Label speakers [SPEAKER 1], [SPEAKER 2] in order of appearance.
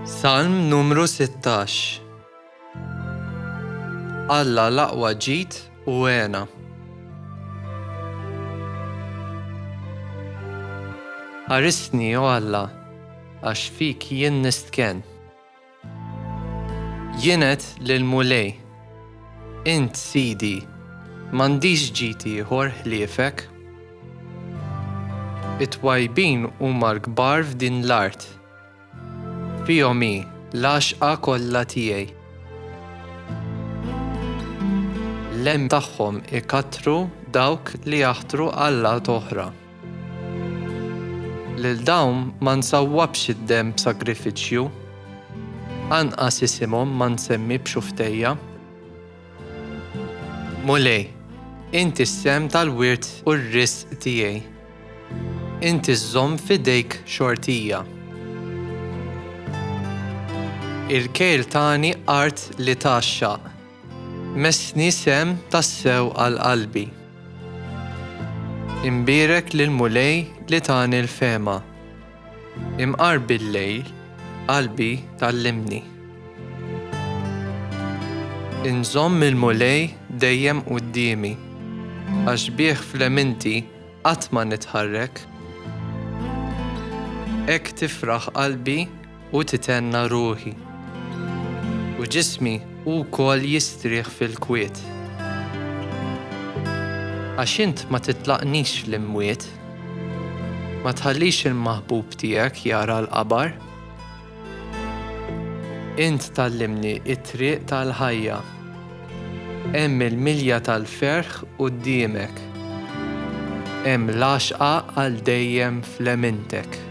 [SPEAKER 1] Salm numru 16 Alla l-aqwa ġid u għena. Ħarisni, o Alla, għax fik jien nistken. Jien għedt lill-Mulej, Int sidi, m'għandix ġid ieħor ħliefek. It-twajbin huma l-kbar f'din l-art. Fihom hi l-għaxqa kollha tiegħi. L-għemil tagħhom ikattru dawk li jaħtru allat oħra. Lil dawn ma nsawwabx id-demm b'sagrifiċċju, anqas isimhom ma nsemmi b'xufftejja. Mulej, inti s-sehem tal-wirt u r-risq tiegħi. Inti żżomm f'idejk xortija. Il-kejl tani art li tgħaxxaq. Messni sehem tassew għal qalbi. Imbierek lill-Mulej li tani l-fehma. Imqar bil-lejl, qalbi tgħallimni. Inżomm il-Mulej dejjem quddiemi. Għax bih fl-eminti qatt ma nitħarrek. Hekk tifraħ qalbi u titenna ruħi, u ġismi wkoll jistrieħ fil-kwiet. Għax int ma titlaqnix fl-imwiet, ma tħallix il-maħbub tiegħek jara l-qabar. Int tgħallimni t-triq tal-ħajja. Hemm il-milja tal-ferħ quddiemek. Hemm l-għaxqa għal dejjem fl-għemintek.